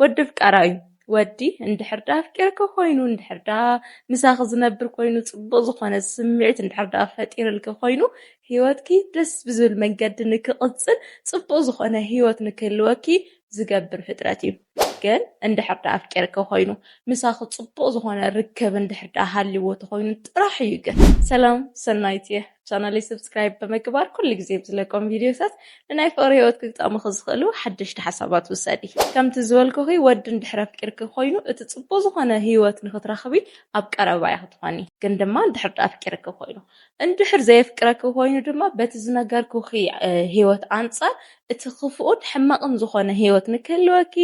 ወዲ ፍቃራ እዩ ወዲ እንድሕር ዳ ኣፍቂርኪ ኮይኑ እንድሕር ዳ ምሳኺ ዝነብር ኮይኑ ጽቡቅ ዝኾነ ስምዒት እንድሕር ዳ ፈጢርልኪ ኮይኑ ሂወትኪ ደስ ብዝብል መንገዲ ንክቅጽል ጽቡቅ ዝኾነ ሂወት ንክህልወኪ ዝገብር ፍጥረት እዩ ግን እንድሕር ዳ ኣፍቂርኪ ኮይኑ ምሳኺ ጽቡቅ ዝኾነ ርክብ እንድሕር ዳ ሃልዎ ተኾይኑ ጥራሕ እዩ ግን ሰላም ሰናይት እየ ቻናለይ ሰብስክራይብ ብምግባር ኩሉ ግዜ ብዝለቆም ቪድዮታት ንናይ ፍቕሪ ህይወት ክግጠሙኺ ዝኽእሉ ሓደሽቲ ሓሳባት ውሰዲ። ከምቲ ዝበልኩኺ ወዲ እንድሕር ኣፍቂርኪ ኮይኑ እቲ ጽቡቕ ዝኾነ ህይወት ንኽትረኽቢ ኣብ ቀረባ ኢኺ ትኾኒ። ግን ድማ እንድሕር ድኣ ኣፍቂርኪ ኮይኑ። እንድሕር ዘየፍቅረኪ ኮይኑ ድማ በቲ ዝነገርኩኺ ህይወት ኣንጻር እቲ ክፉኡን ሕማቕን ዝኾነ ህይወት ንክህልወኪ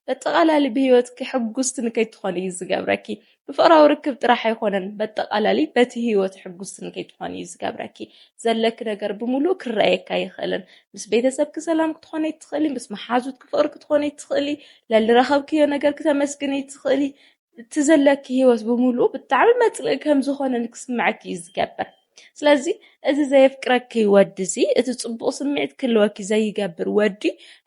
በጠቓላሊ ብህይወትኪ ሕጉስቲ ንከይትኾኒ እዩ ዝገብረኪ። ብፍቕራዊ ርክብ ጥራሕ ኣይኮነን በጠቓላሊ በቲ ህይወት ሕጉስቲ ንከይትኾኒ እዩ ዝገብረኪ። ዘለኪ ነገር ብምሉኡ ክረኣየኪ ኣይኽእልን። ምስ ቤተሰብኪ ሰላም ክትኾኒ ኣይትኽእሊ፣ ምስ መሓዙትኪ ፍቕሪ ክትኾኒ ኣይትኽእሊ፣ ለልረኸብክዮ ነገር ክተመስግኒ ኣይትኽእሊ። እቲ ዘለኪ ህይወት ብምሉኡ ብጣዕሚ መጽልኢ ከምዝኾነ ንክስመዐኪ እዩ ዝገብር። ስለዚ እዚ ዘየፍቅረኪ ወዲ እዚ እቲ ጽቡቕ ስምዒት ክህልወኪ ዘይገብር ወዲ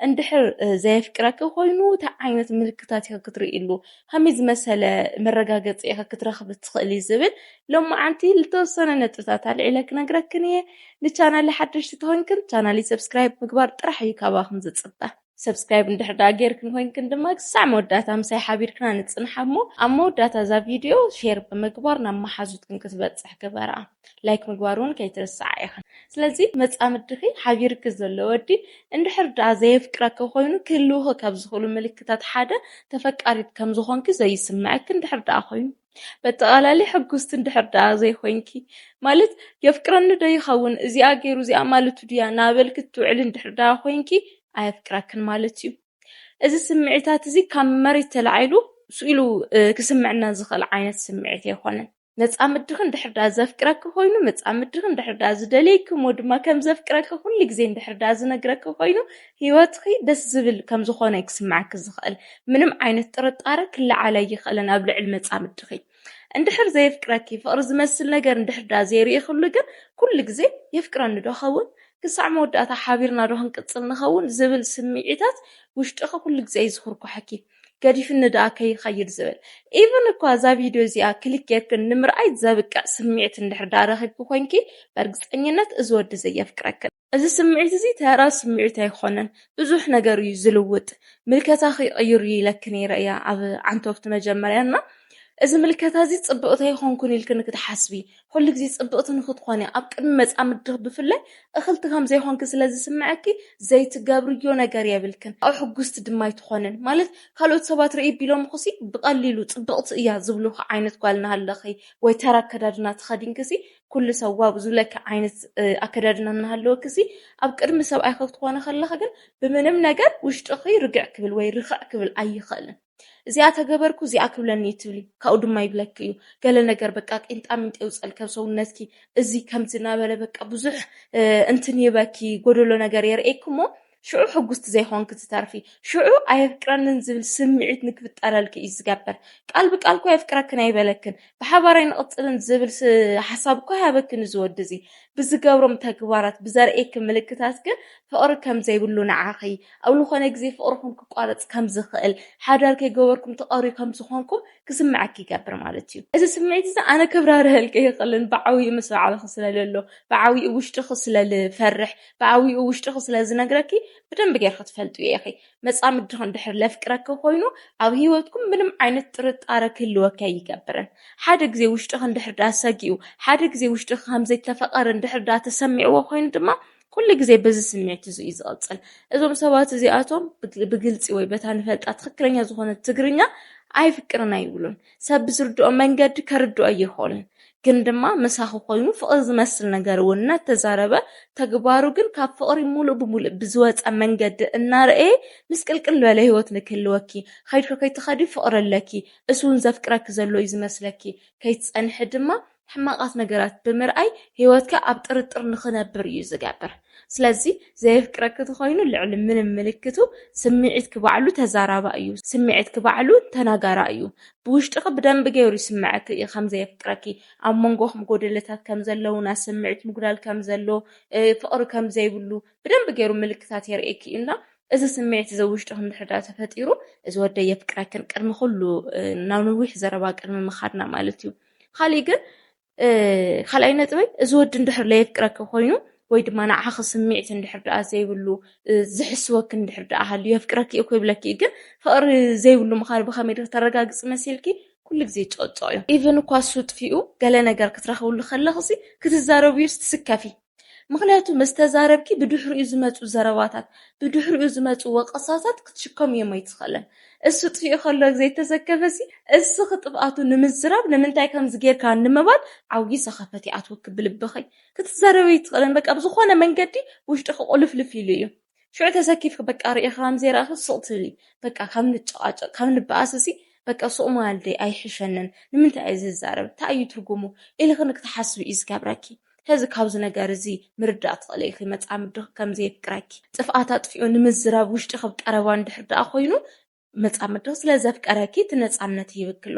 እንድሕር ዘየፍቅረኪ ኮይኑ እንታይ ዓይነት ምልክታት ኢኺ ክትርእይሉ ከመይ ዝመሰለ መረጋገጺ ኢኺ ክትረኽቢ ትኽእሊ ዝብል ሎማዓንቲ ዝተወሰነ ነጥብታት ኣልዒለ ክነግረክን እየ ንቻናል ሓደሽቲ ተኾይንክን ቻናል ሰብስክራይብ ምግባር ጥራሕ እዩ ካባኹም ዝጽበ ሰብስክራይብ እንድሕር ደኣ ጌርክን ኮይንክን ድማ ክሳዕ መወዳእታ ምሳይ ሓቢርክና ንጽንሓ እሞ ኣብ መወዳእታ እዛ ቪድዮ ሼር ብምግባር ናብ መሓዙትክን ክትበጽሕ ግበራ ላይክ ምግባር እውን ከይትርስዓ ኢኽን ስለዚ መጻምድኺ ሓቢርኪ ዘሎ ወዲ እንድሕር ደኣ ዘየፍቅረኪ ኮይኑ ክህልውኺ ካብ ዝኽእሉ ምልክታት ሓደ ተፈቃሪት ከም ዝኾንኪ ዘይስምዐኪ እንድሕር ደኣ ኮይኑ በጠቓላሊ ሕጉስቲ እንድሕር ደኣ ዘይኮይንኪ፣ ማለት የፍቅረኒ ዶ ይኸውን እዚኣ ገይሩ እዚኣ ማለቱ ድያ እናበልኪ እትውዕሊ እንድሕር ደኣ ኮይንኪ ኣየፍቅረክን ማለት እዩ። እዚ ስምዒታት እዚ ካብ መሬት ተላዒሉ ስኡ ኢሉ ክስምዕና ዝኽእል ዓይነት ስምዒት ኣይኮነን። መጻምድኺ እንድሕር ደኣ ዘፍቅረኪ ኮይኑ፣ መጻምድኺ እንድሕር ደኣ ዝደልየኪ እሞ ድማ ከም ዘፍቅረኪ ኩሉ ግዜ እንድሕር ደኣ ዝነግረኪ ኮይኑ፣ ህይወትኺ ደስ ዝብል ከም ዝኾነ እዩ ክስምዓኪ ዝኽእል። ምንም ዓይነት ጥርጣረ ክለዓል ኣይኽእልን ኣብ ልዕሊ መጻምድኺ። እንድሕር ዘየፍቅረኪ፣ ፍቕሪ ዝመስል ነገር እንድሕር ደኣ ዘይርኢኽሉ ግን ኩሉ ግዜ የፍቅረኒ ዶ እኸውን? ክሳዕ መወዳእታ ሓቢርና ዶ ክንቅጽል ንኸውን? ዝብል ስምዒታት ውሽጥኺ ኩሉ ግዜ እዩ ዝኹርኳሐኪ። ገዲፍኒ ደኣ ከይኸይድ ዝብል። ኢቭን እኳ እዛ ቪድዮ እዚኣ ክሊክ ጌርክን ንምርኣይ ዘብቅዕ ስምዒት እንድሕር ደኣ ረኺብኪ ኮይንኪ፣ በርግጸኝነት እዚ ወዲ ዘየፍቅረክን። እዚ ስምዒት እዚ ተራ ስምዒት ኣይኮነን ብዙሕ ነገር እዩ ዝልውጥ ምልከታኺ ይቕይር እዩ ኢለኪ ነይረ እየ ኣብ ዓንቶብቲ መጀመርያ እና እዚ ምልከታ እዚ ፅብቕቲ ኣይኮንኩን ኢልኪ ንክትሓስቢ ኩሉ ግዜ ፅብቕቲ ንክትኾኒ ኣብ ቅድሚ መፃምድትኺ ብፍላይ እኽልቲ ከም ዘይኮንኪ ስለ ዝስምዐኪ ዘይትገብርዮ ነገር የብልክን ኣብ ሕጉስቲ ድማ ኣይትኾንን ማለት ካልኦት ሰባት ርእይ ቢሎምኹሲ ብቐሊሉ ፅብቕቲ እያ ዝብሉኺ ዓይነት ጓል እናሃለኺ ወይ ተራ ኣከዳድና ተኸዲንኪሲ ኩሉ ሰብ ዋእ ዝብለኪ ዓይነት ኣከዳድና እናሃለወኪ ሲ ኣብ ቅድሚ ሰብኣይኺ ክትኾኒ ከለኺ ግን ብምንም ነገር ውሽጥኺ ርግዕ ክብል ወይ ርኽዕ ክብል ኣይኽእልን። እዚኣ ተገበርኩ እዚኣ ክብለኒ እዩ ትብሊ ካብኡ ድማ ይብለኪ እዩ ገለ ነገር በቃ ቂንጣሚንጢ የውፀልኪ ኣብ ሰውነትኪ እዚ ከምዚ እናበለ በቃ ብዙሕ እንትን ይህበኪ ጎደሎ ነገር የርእየኪ እሞ ሽዑ ሕጉስቲ ዘይኮንኪ ትተርፊ። ሽዑ ኣየፍቅረንን ዝብል ስምዒት ንክፍጠረልኪ እዩ ዝገብር። ቃል ብቃል እኮ የፍቅረክን ኣይበለክን፣ ብሓባር ኣይንቕጽልን ዝብል ሓሳብ እኮ ኣይሃበክን እዚ ወዲ እዚ። ብዝገብሮም ተግባራት፣ ብዘርእየኪ ምልክታት ግን ፍቕሪ ከም ዘይብሉ ንዓኺ፣ ኣብ ልኾነ ግዜ ፍቕርኹም ክቋረጽ ከም ዝኽእል፣ ሓዳር ከይገበርኩም ትቐርዩ ከም ዝኾንኩም ክስምዓኪ ይገብር ማለት እዩ። እዚ ስምዒት እዚ ኣነ ከብራርሀልኪ ኣይኽእልን፣ ብዓብይኡ ምስ ባዕልኺ ስለ ለሎ፣ ብዓብይኡ ውሽጥኺ ስለ ልፈርሕ፣ ብኣዊኡ ውሽጥኺ ስለ ዝነግረኪ ብደንቢ ጌርኺ ትፈልጥዮ ኢኺ። መጻምድኺ እንድሕር ለፍቅረኪ ኮይኑ ኣብ ህይወትኩም ምንም ዓይነት ጥርጣረ ክህልወኪ ኣይገብርን። ሓደ ግዜ ውሽጥኺ እንድሕር ድኣ ሰጊኡ፣ ሓደ ግዜ ውሽጥኺ ከም ዘይተፈቐሪ እንድሕር ድኣ ተሰሚዕዎ ኮይኑ ድማ ኩሉ ግዜ በዚ ስምዒት እዚ እዩ ዝቕጽል። እዞም ሰባት እዚኣቶም ብግልጺ ወይ በታ ንፈልጣ ትኽክለኛ ዝኾነት ትግርኛ ኣይፍቅርን ኣይብሉን። ሰብ ብዝርድኦ መንገዲ ከርድኦ ይኽእል ግን ድማ ምሳኺ ኮይኑ ፍቕሪ ዝመስል ነገር እውን እናተዛረበ ተግባሩ ግን ካብ ፍቕሪ ሙሉእ ብሙሉእ ብዝወፀ መንገዲ እናረእየ ምስቅልቅል ዝበለ ህይወት ንክህልወኪ ኸይድኪ ከይትኸዲ ፍቕሪ ኣለኪ እሱ እውን ዘፍቅረኪ ዘሎ እዩ ዝመስለኪ ከይትፀንሒ ድማ ሕማቓት ነገራት ብምርኣይ ህይወትካ ኣብ ጥርጥር ንኽነብር እዩ ዝገብር። ስለዚ ዘየፍቅረኪ ተኾይኑ ልዕሊ ምንም ምልክቱ ስምዒትኪ ባዕሉ ተዛራባ እዩ፣ ስምዒትኪ ባዕሉ ተናጋራ እዩ። ብውሽጥኺ ብደንቢ ገይሩ ይስመዐኪ እዩ ከም ዘየፍቅረኪ፣ ኣብ መንጎኹም ጎደለታት ከም ዘለው፣ ናይ ስምዒት ምጉዳል ከም ዘሎ፣ ፍቕሪ ከም ዘይብሉ ብደንቢ ገይሩ ምልክታት የርእየኪ እዩ እና እዚ ስምዒት እዚ ኣብ ውሽጥኺ እንድሕር ድኣ ተፈጢሩ እዚ ወደይ የፍቅረክን ቅድሚ ኩሉ ናብ ነዊሕ ዘረባ ቅድሚ ምኻድና ማለት እዩ። ኻሊእ ግን ካልኣይ ነጥበይ እዚ ወዲ እንድሕር ለየፍቅረኪ ኮይኑ ወይ ድማ ንዓኺ ስምዒት እንድሕር ደኣ ዘይብሉ ዝሕስወኪ እንድሕር ደኣ ሃልዩ የፍቅረኪ እዩ ክብለኪ እዩ ግን ፍቕሪ ዘይብሉ ምዃኑ ብኸመይ ዶ ተረጋግፂ መሲልኪ ኩሉ ግዜ ይጨቅጨቅ እዩ ኢቨን እኳ እሱ ጥፊኡ ገለ ነገር ክትረኽብሉ ከለኽሲ ክትዛረብዩስ ትስከፊ ምኽንያቱ ምስ ተዛረብኪ ብድሕሪኡ ዝመጹ ዘረባታት ብድሕሪኡ ዝመጹ ወቐሳታት ክትሽከሙ እዮም ኣይትኽእልን እሱ ጥፊኡ ከሎ ዘይተዘከበሲ እስኺ ጥፍኣቱ ንምዝራብ ንምንታይ ከምዚ ጌርካ ንምባል ዓውዪ ሰኸፈት ይኣትወኪ ብልብኺ ክትዛረቢ ኣይትኽእልን በቃ ብዝኾነ መንገዲ ውሽጥኺ ቁልፍልፍ ኢሉ እዩ ሽዑ ተሰኪፍኪ በቃ ርእኪ ከምዘይረኣኪ ስቅ ትብሊ በቃ ካብ ንጨቃጨቅ ካብ ንበኣስ ሲ በቃ ሱቅ ምባል ደይ ኣይሕሸንን ንምንታይ እየ ዝዛረብ ታይ እዩ ትርጉሙ ኢልኪ ንክትሓስቢ እዩ ዝገብረኪ ስለዚ ካብዚ ነገር እዚ ምርዳእ ትክእሊ ኢኪ መጻምድኪ ከምዘየፍቅረኪ ጥፍኣት ኣጥፊኡ ንምዝራብ ውሽጥኪ ብ ቀረባ እንድሕር ደኣ ኮይኑ መጻምድቱ ስለ ዘፍቀረኪ እቲ ነጻነት ሂብኪ ኣሎ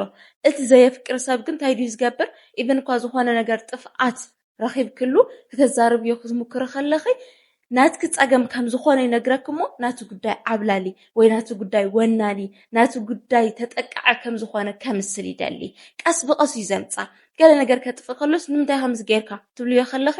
እቲ ዘየፍቅር ሰብ ግን እንታይ ድዩ ዝገብር ኢቨን እኳ ዝኾነ ነገር ጥፍኣት ረኺብክሉ ክተዛርብዮ ክትሙክሪ ከለኺ ናትኪ ጸገም ከም ዝኾነ ይነግረኪ እሞ ናቲ ጉዳይ ዓብላሊ ወይ ናቲ ጉዳይ ወናኒ ናቲ ጉዳይ ተጠቃዐ ከም ዝኾነ ከምስል ይደሊ ቀስ ብቐስ እዩ ዘምጻ ገለ ነገር ከጥፍእ ከሎስ ንምንታይ ከምዚ ጌርካ ትብልዮ ከለኺ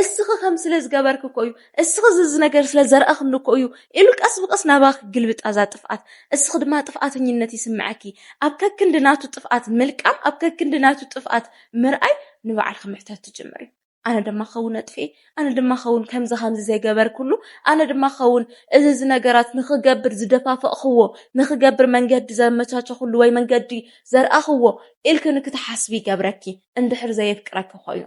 እስኺ ከምዚ ስለ ዝገበርኪ እኮ እዩ እስኺ እዚ እዚ ነገር ስለ ዘርኣኽኒ እኮ እዩ ኢሉ ቀስ ብቐስ ናባኺ ይግልብጣ እዛ ጥፍኣት እስኺ ድማ ጥፍኣተኝነት ይስምዓኪ ኣብ ከክንዲ ናቱ ጥፍኣት ምልቃም ኣብ ከክንዲ ናቱ ጥፍኣት ምርኣይ ንባዕልኺ ምሕታት ትጅምሪ። ኣነ ድማ ክኸውን ኣጥፍኤ፣ ኣነ ድማ ክኸውን ከምዚ ከምዚ ዘይገበርኩሉ፣ ኣነ ድማ ክኸውን እዚ እዚ ነገራት ንኽገብር ዝደፋፈእኽዎ፣ ንኽገብር መንገዲ ዘመቻቸኹሉ ወይ መንገዲ ዘርኣኽዎ ኢልኪ ንክትሓስቢ ይገብረኪ እንድሕር ዘየፍቅረኪ ኮይኑ።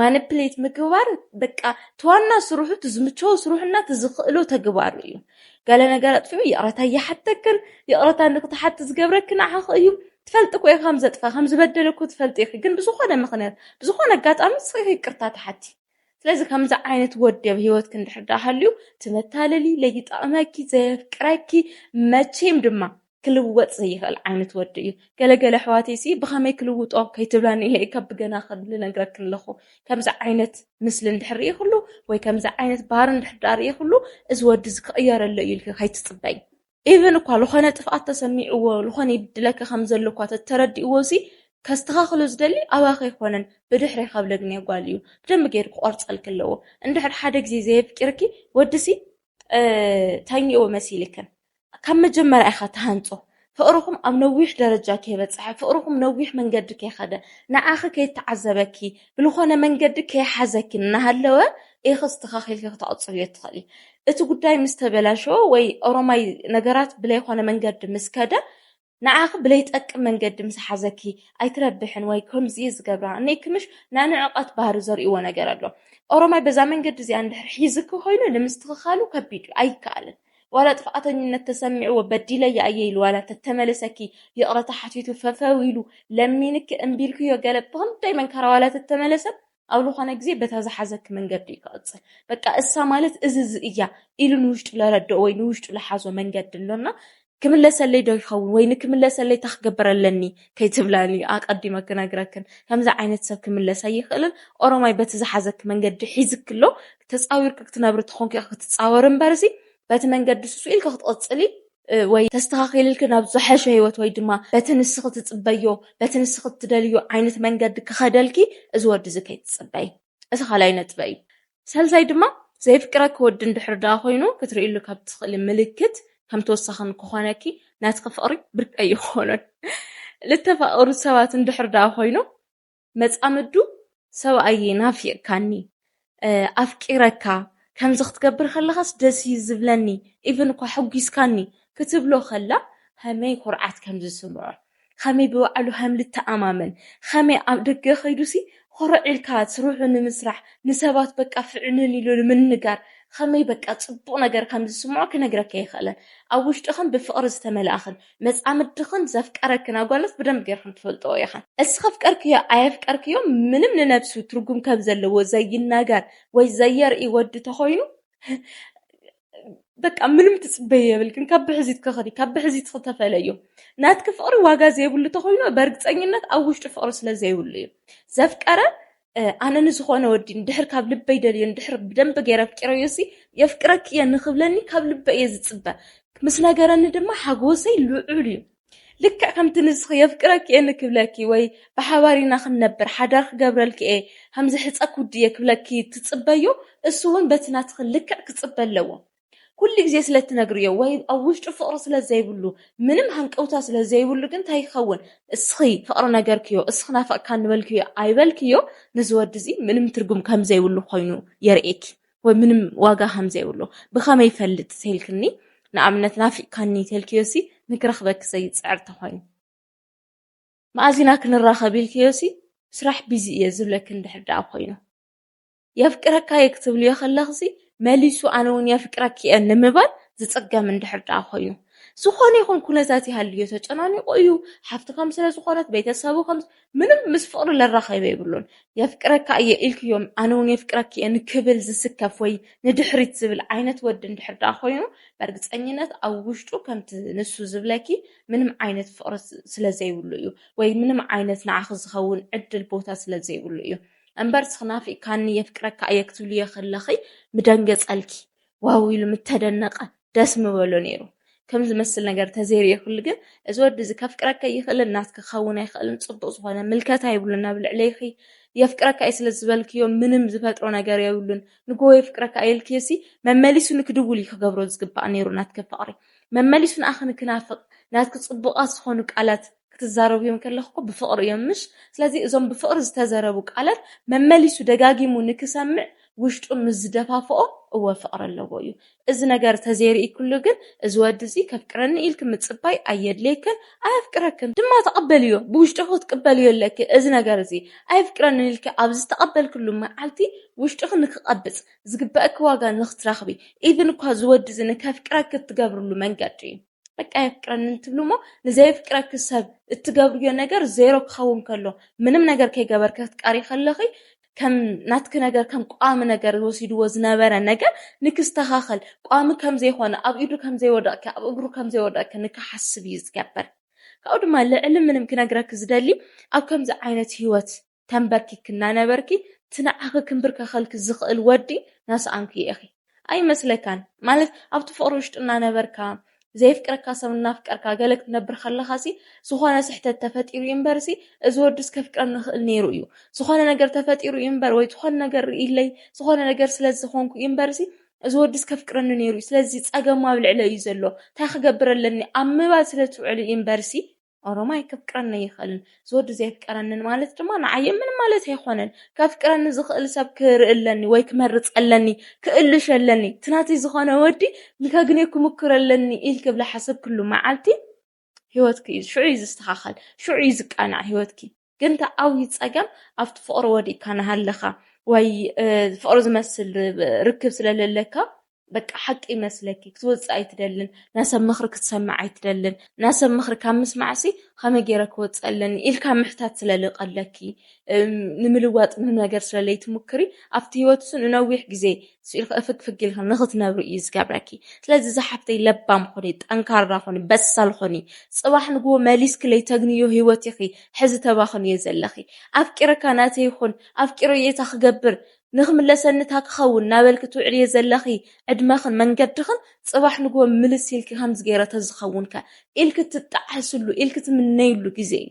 ማኒፕሌት ምግባር በቃ እቲ ዋና ስርሑ እቲ ዝምቸዎ ስርሑና እቲ ዝኽእሎ ተግባሩ እዩ። ገለ ነገር ኣጥፊኡ ይቕረታ ይሓተክን ይቕረታ ንክትሓቲ ዝገብረኪ ንዓኺ እዩ ትፈልጢ እኮ ኢኺ ከም ዘጥፋ ከም ዝበደለ እኮ ትፈልጢ ኢኺ ግን ብዝኾነ ምኽንያት ብዝኾነ ኣጋጣሚ ንስኺ ኢኺ ይቅርታ ትሓቲ ስለዚ ከምዚ ዓይነት ወዲ ኣብ ሂወትኪ እንድሕር ደኣ ሃልዩ ትመታለሊ ለይጣቕመኪ ዘየፍቅረኪ መቼም ድማ ክልወጥ ዘይኽእል ዓይነት ወዲ እዩ ገለ ገለ ኣሕዋተይሲ ብኸመይ ክልውጦ ከይትብላኒ ኢለ ካብ ብገና ልነግረክን ኣለኹ ከምዚ ዓይነት ምስሊ እንድሕር ርኢኹሉ ወይ ከምዚ ዓይነት ባህሪ እንድሕር ዳኣ ርኢኹሉ እዚ ወዲ እዚ ክቕየረሎ እዩ ኢልኪ ከይትጽበይ ኢቨን እኳ ዝኾነ ጥፍኣት ተሰሚዕዎ ዝኾነ ይብድለኪ ከም ዘሎ እኳ ተተረዲእዎ ሲ ከስተኻኽሎ ዝደሊ ኣባኺ ኣይኮነን ብድሕሪ ካብ ለግንየ ጓል እዩ ብደንቢ ገይሩ ክቆርጸልኪ ኣለዎ እንድሕር ሓደ ግዜ ዘየፍቂርኪ ወዲ ሲ ተኝእዎ መሲልክን ካብ መጀመርያ ኢኻ ትሃንጾ ፍቕርኹም ኣብ ነዊሕ ደረጃ ከይበጽሐ ፍቕርኹም ነዊሕ መንገዲ ከይኸደ ንዓኺ ከይተዓዘበኪ ብልኾነ መንገዲ ከይሓዘኪ እናሃለወ ኢኺ ኣስተኻኺልኪ ክተቕጽብዮ ትኽእሊ እቲ ጉዳይ ምስ ተበላሸወ ወይ ኦሮማይ ነገራት ብለይኾነ መንገዲ ምስ ከደ ንዓኺ ብለይጠቅም መንገዲ ምስ ሓዘኪ ኣይትረብሕን ወይ ከምዚ'የ ዝገብራ እኔኪ ምሽ ናይ ንዕቐት ባህሪ ዘርእይዎ ነገር ኣሎ። ኦሮማይ በዛ መንገዲ እዚኣ እንድሕር ሒዝኪ ኮይኑ ንምስትኽኻሉ ከቢድ'ዩ ኣይከኣልን። ዋላ ጥፍኣተኝነት ተሰሚዕዎ በዲለያ እየ ኢሉ ዋላ ተተመልሰኪ ይቕረታ ሓቲቱ ፈፈው ኢሉ ለሚንኪ እምቢ ኢልክዮ ገለ ብኽንደይ መንካራ ዋላ ተተመለሰ ኣብ ልኾነ ግዜ በታ ዝሓዘኪ መንገዲ እዩ ክቕጽል በቃ እሳ ማለት እዚ እዚ እያ ኢሉ ንውሽጡ ለረድኦ ወይ ንውሽጡ ለሓዞ መንገዲ ኣሎና ክምለሰለይ ዶ ይኸውን ወይ ንክምለሰለይ እታ ክገብር ኣለኒ ከይትብላን እዩ ኣቐዲመ ክነግረክን ከምዚ ዓይነት ሰብ ክምለስ ኣይኽእልን ኦሮማይ በቲ ዝሓዘኪ መንገዲ ሒዝኪ ኣሎ ተጻዊርኪ ክትነብሪ ተኾንኪ ክትጻወሪ እምበርሲ በቲ መንገዲ ሱሱ ኢልኪ ክትቕጽሊ ወይ ተስተኻኺልልኪ ናብ ዝሐሸ ህይወት ወይ ድማ በቲ ንስኺ ትጽበዮ በቲ ንስኺ እትደልዮ ዓይነት መንገዲ ክኸደልኪ እዚ ወዲ እዚ ከይትጽበይ። እቲ ካልኣይ ነጥበይ እዩ። ሳልሳይ ድማ ዘየፍቅረኪ ወዲ እንድሕር ደኣ ኮይኑ ክትርእይሉ ካብ እትኽእሊ ምልክት ከም ተወሳኺ ንክኾነኪ ናትኪ ፍቕሪ ብርቂ ኣይኾኖን። ልተፋቐሩ ሰባት እንድሕር ደኣ ኮይኑ መጻምዱ ሰብኣየይ ናፊቕካኒ ኣፍቂረካ ከምዚ ክትገብር ከለኻስ ደስ እዩ ዝብለኒ ኢቭን እኳ ሐጒስካኒ ክትብሎ ከላ ኸመይ ኹርዓት ከም ዝስምዖ ኸመይ ብባዕሉ ኸም ልተኣማመን ኸመይ ኣብ ደገ ኸይዱሲ ኹርዕ ኢልካ ስርሑ ንምስራሕ ንሰባት በቃ ፍዕንን ኢሉ ንምንጋር ኸመይ በቃ ጽቡቕ ነገር ከም ዝስምዖ ክነግረካ ኣይኽእለን ኣብ ውሽጡ ኸም ብፍቕሪ ዝተመልኣ ኸም መጻምድኽን ዘፍቀረክን ኣጓልስ ብደንቢ ጌርኽን ትፈልጥኦ ኢኽን። እስኽ ኣፍቀርክዮ ኣየፍቀርክዮ ምንም ንነብሱ ትርጉም ከም ዘለዎ ዘይናገር ወይ ዘየርኢ ወዲ ተኾይኑ በቃ ምንም ትጽበይ የብልክን ካብ ብሕዚትኪ ኽዲ ካብ ብሕዚትኺ ተፈለዩ ናትኪ ፍቕሪ ዋጋ ዘይብሉ ተኾይኑ በርግጸኝነት ኣብ ውሽጡ ፍቕሪ ስለ ዘይብሉ እዩ ዘፍቀረ ኣነ ንዝኾነ ወዲ ንድሕር ካብ ልበይ ደልዮ ንድሕር ብደንብ ገይረ ኣፍቂረዮ ሲ የፍቅረኪ እየ ንክብለኒ ካብ ልበይ እየ ዝፅበ ምስ ነገረኒ ድማ ሓጎሰይ ልዑል እዩ ልክዕ ከምቲ ንስኺ የፍቅረኪ እየ ንክብለኪ ወይ ብሓባር ኢና ክንነብር ሓዳር ክገብረልኪ እየ ከምዚ ሕፀ ኩዲ እየ ክብለኪ ትፅበዮ እሱ እውን በቲ ናትኺ ልክዕ ክፅበ ኣለዎ ኩሉ ግዜ ስለ እትነግርዮ ወይ ኣብ ውሽጡ ፍቕሪ ስለ ዘይብሉ ምንም ሃንቀውታ ስለ ዘይብሉ ግን እንታይ ይኸውን እስኺ ፍቕሪ ነገርክዮ እስኺ ናፈቕካኒ በልክዮ ኣይበልክዮ ንዚ ወዲ እዚ ምንም ትርጉም ከም ዘይብሉ ኮይኑ የርእየኪ ወይ ምንም ዋጋ ከም ዘይብሉ ብኸመይ ይፈልጥ ተልክኒ ንኣብነት ናፊቕካኒ ተልክዮሲ ንክረኽበኪ ዘይጽዕር ተኾይኑ መኣዚና ክንራኸብ ኢልክዮሲ ስራሕ ቢዚ እየ ዝብለኪ እንድሕር ደኣ ኮይኑ የፍቅረካ'የ ክትብልዮ ከለኽሲ መሊሱ ኣነ'ውን የፍቅረኪ'የ ንምባል ዝጽገም እንድሕር ደኣ ኮይኑ ዝኾነ ይኹን ኩነታት ይሃልዮ ተጨናኒቑ እዩ ሓፍቲ ከም ስለ ዝኾነት ቤተሰቡ ከም ምንም ምስ ፍቕሪ ለራኸበ የብሉን የፍቅረካ እየ ኢልክዮም ኣነ እውን የፍቅረኪ እየ ንክብል ዝስከፍ ወይ ንድሕሪት ዝብል ዓይነት ወዲ እንድሕር ደኣ ኮይኑ በርግፀኝነት ኣብ ውሽጡ ከምቲ ንሱ ዝብለኪ ምንም ዓይነት ፍቕሪ ስለዘይብሉ እዩ ወይ ምንም ዓይነት ንዓኺ ዝኸውን ዕድል ቦታ ስለዘይብሉ እዩ እምበር ስኽ ናፊቅካኒ የፍቅረካ እየ ክትብልዮ ከለኺ ምደንገጸልኪ ዋው ኢሉ ምተደነቀ ደስ ምበሎ ኔሩ ከም ዝመስል ነገር ተዘይሪኤክሉ ግን እዚ ወዲ እዚ ከፍቅረኪ ኣይኽእልን ናትኪ ክኸውን ኣይኽእልን ጽቡቅ ዝኾነ ምልከታ የብሉን ኣብ ልዕሌኺ የፍቅረካ እየ ስለ ዝበልክዮ ምንም ዝፈጥሮ ነገር የብሉን ንጎ የፍቅረካ እየ ኢልክዮሲ መመሊሱ ንክድውል እዩ ክገብሮ ዝግባእ ኔሩ ናትኪ ፍቅሪ መመሊሱ ንኣኺ ንክናፍቅ ናትኪ ጽቡቃት ዝኾኑ ቃላት ክትዛረብዮም ከለኽ እኮ ብፍቕሪ እዮም ምሽ ስለዚ እዞም ብፍቕሪ ዝተዘረቡ ቃለት መመሊሱ ደጋጊሙ ንክሰምዕ ውሽጡ ምስ ዝደፋፍኦ እወ ፍቕሪ ኣለዎ እዩ እዚ ነገር ተዘይሪኢክሉ ግን እዚ ወዲ እዚ ከፍቅረኒ ኢልኪ ምጽባይ ኣየድልየክን ኣየፍቅረክን ድማ ተቐበልዮ ብውሽጥኺ ክትቅበልዮ ኣለኪ እዚ ነገር እዚ ኣየፍቅረንን ኢልኪ ኣብ ዝተቐበልክሉ መዓልቲ ውሽጥኺ ንክቐብጽ ዝግበእኪ ዋጋ ንክትረኽቢ ኢቭን እኳ እዚ ወዲ እዚ ንከፍቅረኪ እትገብርሉ መንገዲ እዩ በቃ የፍቅረኒ እንትብሉ እሞ ንዘየፍቅረኪ ሰብ እትገብርዮ ነገር ዜሮ ክኸውን ከሎ ምንም ነገር ከይገበርኪ ክትቀሪ ከለኺ ከም ናትኪ ነገር ከም ቋሚ ነገር ወሲድዎ ዝነበረ ነገር ንክስተኻኸል ቋሚ ከም ዘይኮነ ኣብ ኢዱ ከም ዘይወደቕኪ ኣብ እግሩ ከም ዘይወደቕኪ ንክሓስብ እዩ ዝገበር ካብኡ ድማ ልዕሊ ምንም ክነግረኪ ዝደሊ ኣብ ከምዚ ዓይነት ህይወት ተንበርኪክና ነበርኪ እቲ ንዓኺ ክንብርከኸልኪ ዝኽእል ወዲ ናሰኣንክዮ ኢኺ ኣይመስለካን ማለት ኣብቲ ፍቕሪ ውሽጢ እናነበርካ ዘየፍቅረካ ሰብ እናፍቀርካ ገለ ክትነብር ከለኻሲ ዝኾነ ስሕተት ተፈጢሩ እዩ እምበርሲ እዚ ወዲስ ከፍቅረኒ ይኽእል ነይሩ እዩ ዝኾነ ነገር ተፈጢሩ እዩ እምበር ወይ ዝኾነ ነገር ርእይለይ ዝኾነ ነገር ስለዝኾንኩ እዩ እምበርሲ እዚ ወዲስ ከፍቅረኒ ነይሩ እዩ ስለዚ ጸገሙ ኣብ ልዕለ እዩ ዘሎ እንታይ ክገብር ኣለኒ ኣብ ምባል ስለትውዕሉ እዩ እምበርሲ ኦሮማይ ክፍቅረኒ ኣይኽእልን ዝወዲ ዘየፍቀረንን ማለት ድማ ንዓየ ምንም ማለት ኣይኮነን ከፍቅረኒ ዝኽእል ሰብ ክርኢ ኣለኒ ወይ ክመርፅ ኣለኒ ክእልሽ ኣለኒ እቲ ናተይ ዝኾነ ወዲ ንከግኔ ክምክር ኣለኒ ኢልክ ብላ ሓሰብ ክሉ መዓልቲ ህይወትኪ እዩ ሽዑ እዩ ዝስተኻኸል ሽዑ እዩ ዝቃናዕ ህይወትኪ ግን እቲ ዓብዩ ፀገም ኣብቲ ፍቅሪ ወዲእካ ናሃለኻ ወይ ፍቅሪ ዝመስል ርክብ ስለለለካ በቃ ሓቂ ይመስለኪ ክትወፅእ ኣይትደልን ናሰብ ምኽሪ ክትሰምዕ ኣይትደልን ናሰብ ምኽሪ ካብ ምስማዕሲ ከመይ ገይረ ክወፅእ ኣለኒ ኢልካ ምሕታት ስለልቀለኪ ንምልዋጥ ምንም ነገር ስለለይትሙክሪ ኣብቲ ሂወትሱ ንነዊሕ ግዜ ስኢልኪ እፍግፍግ ኢልኪ ንኽትነብሪ እዩ ዝገብረኪ ስለዚ ዝሓፍተይ ለባም ኹኒ ጠንካራ ኹኒ በሳል ኹኒ ጽባሕ ንግሆ መሊስኪ ለይተግንዮ ሂወት ኢኺ ሕዚ ተባኽንዮ ዘለኺ ኣፍቂረካ ናተይ ኹን ኣፍቂረዮ እታ ክገብር ንኽምለሰኒ እታ ክኸውን ናበልኪ ትውዕልዮ ዘለኺ ዕድመኽን መንገድኽን ጽባሕ ንግሆ ምልስ ኢልኪ ከምዚ ገይረ ተዝኸውንከ ኢልኪ ትጣዓስሉ ኢልኪ ትምነይሉ ግዜ እዩ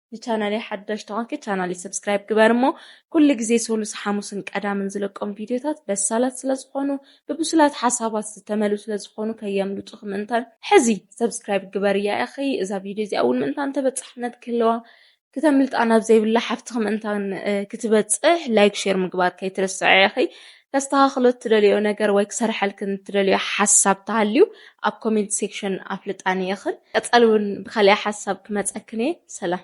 ንቻናለይ ሓዳሽ ተኾንኪ ቻናለይ ሰብስክራይብ ግበር እሞ ኩሉ ግዜ ሶሉስ ሓሙስን ቀዳምን ዝለቆም ቪድዮታት በሳላት ስለዝኾኑ ብብሱላት ሓሳባት ዝተመሉ ስለዝኾኑ ከየምልጡኺ ምእንታን ሕዚ ሰብስክራይብ ግበርያ ኢኺ እዛ ቪድዮ እዚኣ እውን ምእንታን ተበፃሕነት ክህልዋ ክተምልጣ ናብ ዘይብላ ሓፍትኺ ምእንታን ክትበፅሕ ላይክ ሼር ምግባር ከይትርስዐ ኢኺ ከስተኻኽሎ እትደልዮ ነገር ወይ ክሰርሐልክን እትደልዮ ሓሳብ ተሃልዩ ኣብ ኮሜንት ሴክሽን ኣፍልጣኒ ኢኽን ቀፃሊ እውን ብካሊኣ ሓሳብ ክመፀክን እየ ሰላም